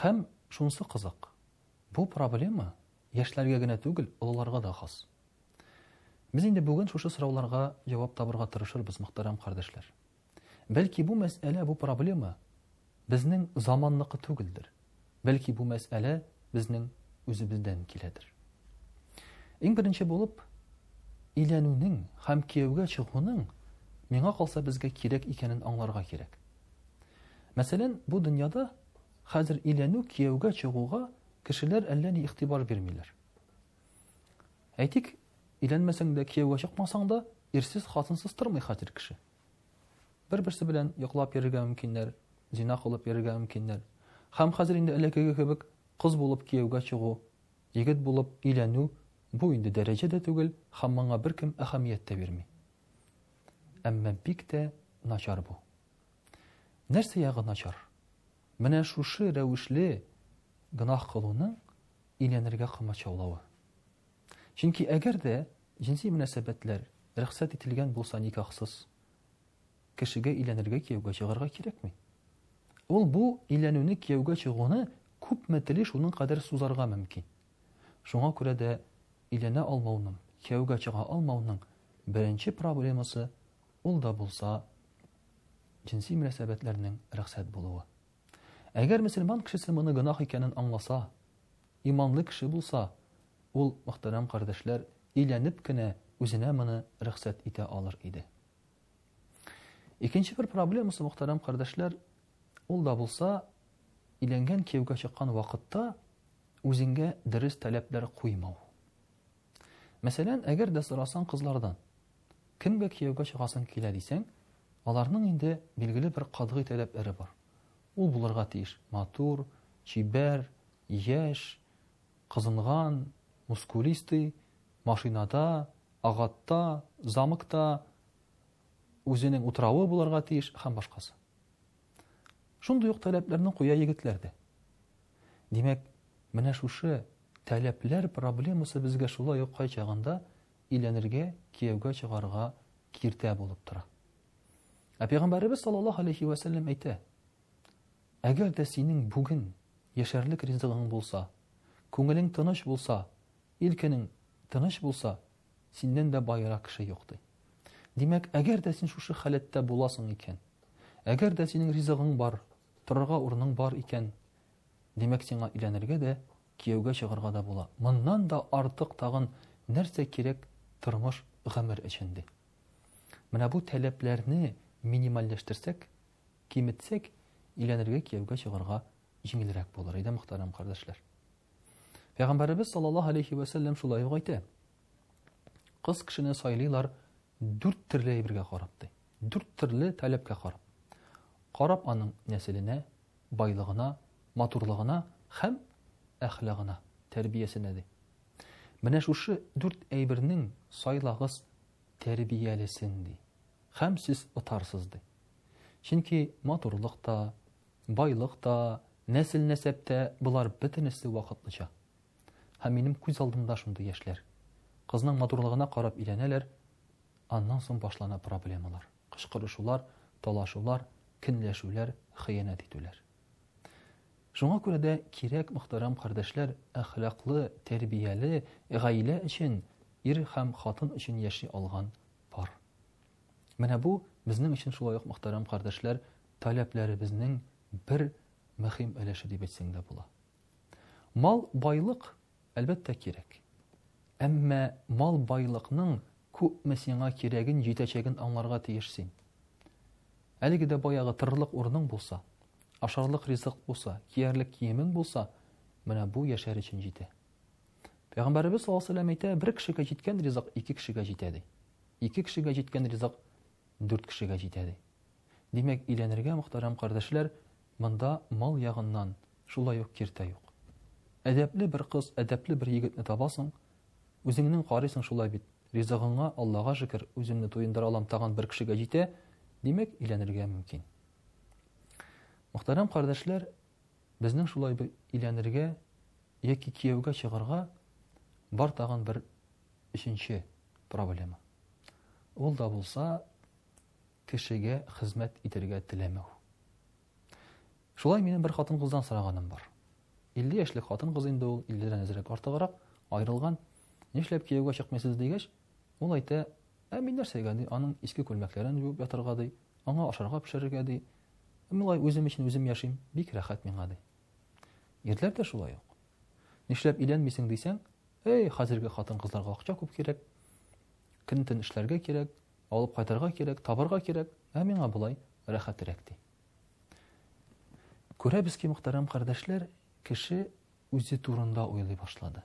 Һәм шунысы кызык, бу проблема яшьләргә генә түгел, олыларга да хас. Без инде бүген шушы сорауларга җавап табырга тырышырбыз, мөхтәрәм кардәшләр. Бәлки бу мәсьәлә, бу проблема безнең заманныкы түгелдер. Бәлки бу мәсьәлә безнең үзебездән киләдер. Иң беренче булып, өйләнүнең һәм кияүгә чыгуның миңа калса безгә кирәк икәнен аңларга кирәк. Мәсәлән, бу дөньяда хәзер өйләнү, кияүгә чыгуга кешеләр әллә ни игътибар бирмиләр. Әйтик, өйләнмәсәң дә, кияүгә чыкмасаң да, ирсез, хатынсыз тормый хәзер кеше. Бер-берсе белән йоклап йөрергә мөмкиннәр, зина кылып йөрергә мөмкиннәр. Һәм хәзер инде элеккеге кебек кыз булып кияүгә чыгу, егет булып өйләнү бу инде дәрәҗә дә түгел һәм моңа беркем әһәмият тә бирми. Әмма бик тә начар бу. Нәрсә ягы начар? Менә шушы рәвешле гөнаһ кылуның өйләнергә комачаулавы. Чөнки әгәр дә җенси мөнәсәбәтләр рөхсәт ителгән булса никахсыз, кешегә өйләнергә кияүгә чыгарга кирәкми. Ул бу өйләнүне кияүгә чыгуны күпме тели шуның кадәр сузарга мөмкин. Шуңа күрә дә өйләнә алмауның, кияүгә чыга алмауның Беренче проблемасы, ул да булса, җенси мөнәсәбәтләрнең рөхсәт булуы. Әгәр мөселман кешесе моны гөнаһ икәнен аңласа, иманлы кеше булса, ул, мөхтәрәм кардәшләр, өйләнеп кенә үзенә моны рөхсәт итә алыр иде. Икенче бер проблемасы, мөхтәрәм кардәшләр, ул да булса, иләнгән кияүгә чыккан вакытта үзеңгә дөрес таләпләр куймау. Мәсәлән, әгәр дә сорасаң кызлардан, кемгә кияүгә чыгасың килә дисәң, аларның инде билгеле бер катгый таләпләре бар. Ул булырга тиеш матур, чибәр, яшь, кызынган, мускулистый, машинада, агатта, замокта, үзенең утравы булырга тиеш һәм башкасы. Шундый ук таләпләрне куя егетләр дә. Димәк, менә шушы таләпләр проблемасы безгә шулай ук кайчагында иләнергә, кияүгә чыгарга киртә булып тора. Ә пәйгамбәребез саллаллаһу алейхи ва сәлләм әйтә: Әгәр дә синең бүген яшәрлек ризыгың булса, күңелең тыныч булса, илкенең тыныч булса, Синнән дә баерак кеше юк, ди. Димәк, әгәр дә син шушы халәттә буласың икән, әгәр дә синең ризыгың бар, торырга урының бар икән, димәк, сиңа өйләнергә дә, кияүгә чыгарга да була. Моннан да артык тагын нәрсә кирәк тормыш, гомер өчен, ди. Менә бу таләпләрне минимальләштерсәк, киметсәк, өйләнергә, кияүгә чыгарга җиңелрәк булыр иде, мөхтәрәм кардәшләр. Пәйгамбәребез саллаллаһу алейхи вә сәлләм шулай ук әйтә. Кыз кешене сайлыйлар дүрт төрле әйбергә карап ди. Дүрт төрле таләпкә карап. Карап аның нәселенә, байлыгына, матурлыгына һәм әхлагына, тәрбиясенә ди. Менә шушы дүрт әйбернең сайлагыз тәрбиялесен ди. Һәм сез отарсыз ди. Чөнки матурлык та, Байлык та, нәсел-нәсәп тә, болар бөтенесе вакытлыча. Һәм минем күз алдымда шундый яшьләр. Кызның матурлыгына карап өйләнәләр, аннан соң башлана проблемалар, кычкырышулар, талашулар, көнләшүләр, хыянәт итүләр. Шуңа күрә дә кирәк, мөхтәрәм кардәшләр, әхлаклы, тәрбияле, гаилә өчен, ир һәм хатын өчен яши алган пар. Менә бу безнең өчен шулай ук, мөхтәрәм кардәшләр, таләпләребезнең бер мөһим өлеше дип әйтсәң дә була. Мал, байлык, әлбәттә, кирәк. Әмма мал, байлыкның күпме сиңа кирәген, җитәчәген аңларга тиеш син. Әлеге дә баягы тырырлык урының булса, ашарлык ризык булса, киярлек киемең булса, менә бу яшәр өчен җитә. Пәйгамбәребез саллаллаһу алейһи әйтә, бер кешегә җиткән ризык ике кешегә җитә ди. Ике кешегә җиткән ризык дүрт кешегә җитә, ди. Димәк, өйләнергә, мөхтәрәм кардәшләр, монда мал ягыннан, шулай ук киртә юк. Әдәпле бер кыз, әдәпле бер егетне табасың, үзеңнең карыйсың шулай бит, ризыгыңа, Аллага шөкер, үземне туендыра алам, тагын бер кешегә җитә, димәк, өйләнергә мөмкин. Мөхтәрәм кардәшләр, безнең шулай бер өйләнергә яки кияүгә чыгарга бар тагын бер Өченче проблема. Ул да булса кешегә хезмәт итергә теләмәү. Шулай минем бер хатын кыздан сораганым бар. 50 яшьлек хатын кыз инде ул, 50 дән әзрәк артыграк, аерылган. Нишләп кияүгә чыкмыйсыз дигәч, ул әйтә, ә мин нәрсәгә ди, аның иске күлмәкләрен юып ятарга ди, аңа ашарга пешерергә ди. Милай үзем өчен үзем яшим, бик рәхәт миңа ди. Ирләр дә шулай ук. Нишләп өйләнмисең дисәң, Әй, хәзерге хатын-кызларга акча күп кирәк. Көн-төн эшләргә кирәк, алып кайтырга кирәк, табарга кирәк. Ә миңа болай рәхәтрәк ди. Күрәбез ки, мөхтәрәм кардәшләр, кеше үзе турында уйлый башлады.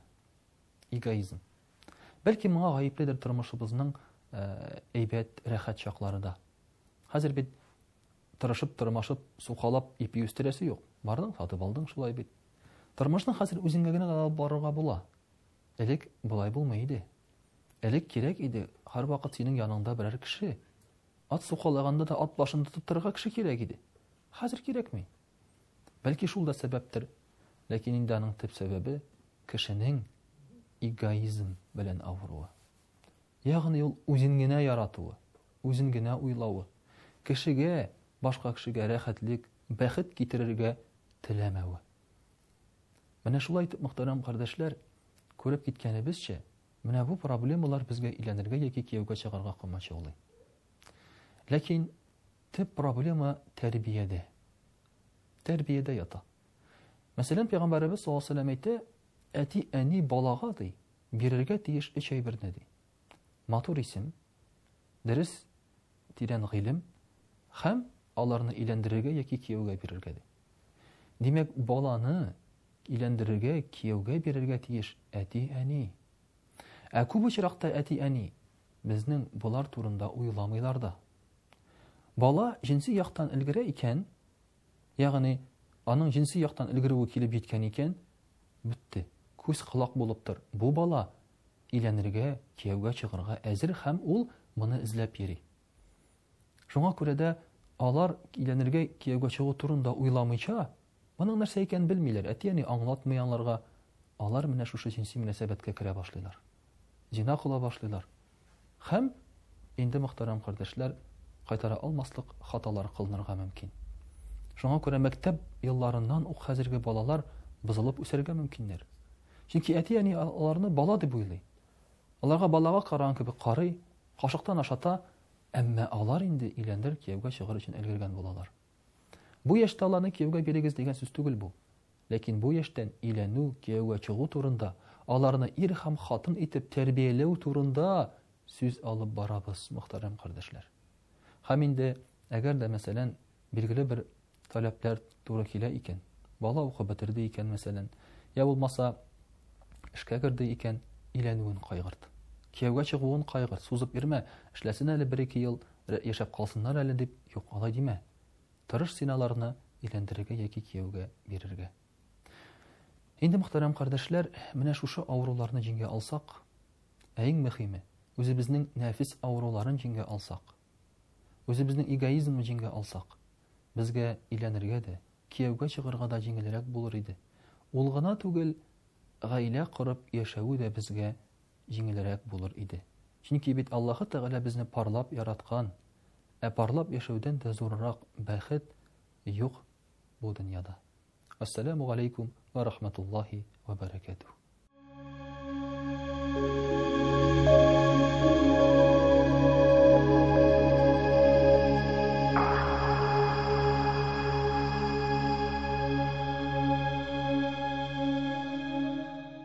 Эгоизм. Бәлки моңа гаепледер тормышыбызның әйбәт, рәхәт чаклары да. Хәзер бит Тырышып, тырмашып, сукалап ипи үстерәсе юк. Бардың, сатып алдың, шулай бит. Тормышны хәзер үзеңгә генә алып барырга була. Элек болай булмый иде. Элек кирәк иде, һәрвакыт синең яныңда берәр кеше. Ат сукалаганда да ат башын тотып торырга кеше кирәк иде. Хәзер кирәкми. Бәлки шул да сәбәптер. Ләкин инде аның төп сәбәбе кешенең эгоизм белән авыруы. Ягъни ул үзен генә яратуы, үзен генә уйлавы, кешегә, башка кешегә рәхәтлек, бәхет китерергә теләмәве. Менә шулай итеп, мөхтәрәм кардәшләр, күреп киткәнебезчә, менә бу проблемалар безгә өйләнергә яки кияүгә чыгарга комачаулый. Ләкин төп проблема тәрбиядә. Тәрбиядә ята. Мәсәлән, пәйгамбәребез саллаллаһу алейһи ва сәлләм әйтә, әти-әни балага ди, Бирергә тиеш өч әйберне, ди. Матур исем, дөрес, тирән гыйлем һәм аларны өйләндерергә яки кияүгә бирергә, ди. Димәк, баланы өйләндерергә, кияүгә бирергә тиеш әти-әни. Ә күп очракта әти-әни безнең болар турында уйламыйлар да. Бала җенси яктан өлгерә икән, Ягъни, аның җенси яктан өлгерүе килеп җиткән икән, бетте. Күз-колак булып тор, бу бала өйләнергә, кияүгә чыгарга әзер һәм ул моны эзләп йөри. Шуңа күрә дә алар өйләнергә, кияүгә чыгу турында уйламыйча, моның нәрсә икәнен белмиләр, әти-әни аңлатмый аңларга, алар менә шушы җенси мөнәсәбәткә керә башлыйлар. Зина кыла башлыйлар. Һәм инде, мөхтәрәм кардәшләр, кайтара алмаслык хаталар кылынырга мөмкин. Шуңа күрә мәктәп елларыннан ук хәзерге балалар бозылып үсәргә мөмкиннәр. Чөнки әти-әни аларны бала дип уйлый. Аларга балага караган кебек карый, кашыктан ашата, әмма алар инде өйләнер, кияүгә чыгар өчен өлгергән булалар. Бу яшьтә аларны кияүгә бирегез дигән сүз түгел бу. Ләкин бу яшьтән өйләнү, кияүгә чыгу турында, аларны ир һәм хатын итеп тәрбияләү турында сүз алып барабыз, мөхтәрәм кардәшләр. Һәм инде, әгәр дә, мәсәлән, билгеле бер таләпләр туры килә икән, бала укып бетерде икән, мәсәлән, йә булмаса, эшкә керде икән, өйләнүен кайгырт. Кияүгә чыгуын кайгырт, сузып йөрмә, эшләсен әле бер-ике ел, яшәп калсыннар әле дип, юк, алай димә. Тырыш син аларны өйләндерергә яки кияүгә бирергә. Инде, мөхтәрәм кардәшләр, менә шушы авыруларны җиңә алсак, ә иң мөхиме, үзебезнең нәфис авыруларын җиңә алсак, үзебезнең эгоизмны җиңә алсак, безгә өйләнергә дә, кияүгә чыгарга да җиңелрәк булыр иде. Ул гына түгел, гаилә корып яшәүе дә безгә җиңелрәк булыр иде. Чөнки бит Аллаһы Тәгалә безне парлап яраткан, ә парлап яшәүдән дә зуррак бәхет юк бу дөньяда. Ассаляму галәйкүм ва рахматуллаһи ва бәрәкәтүһ.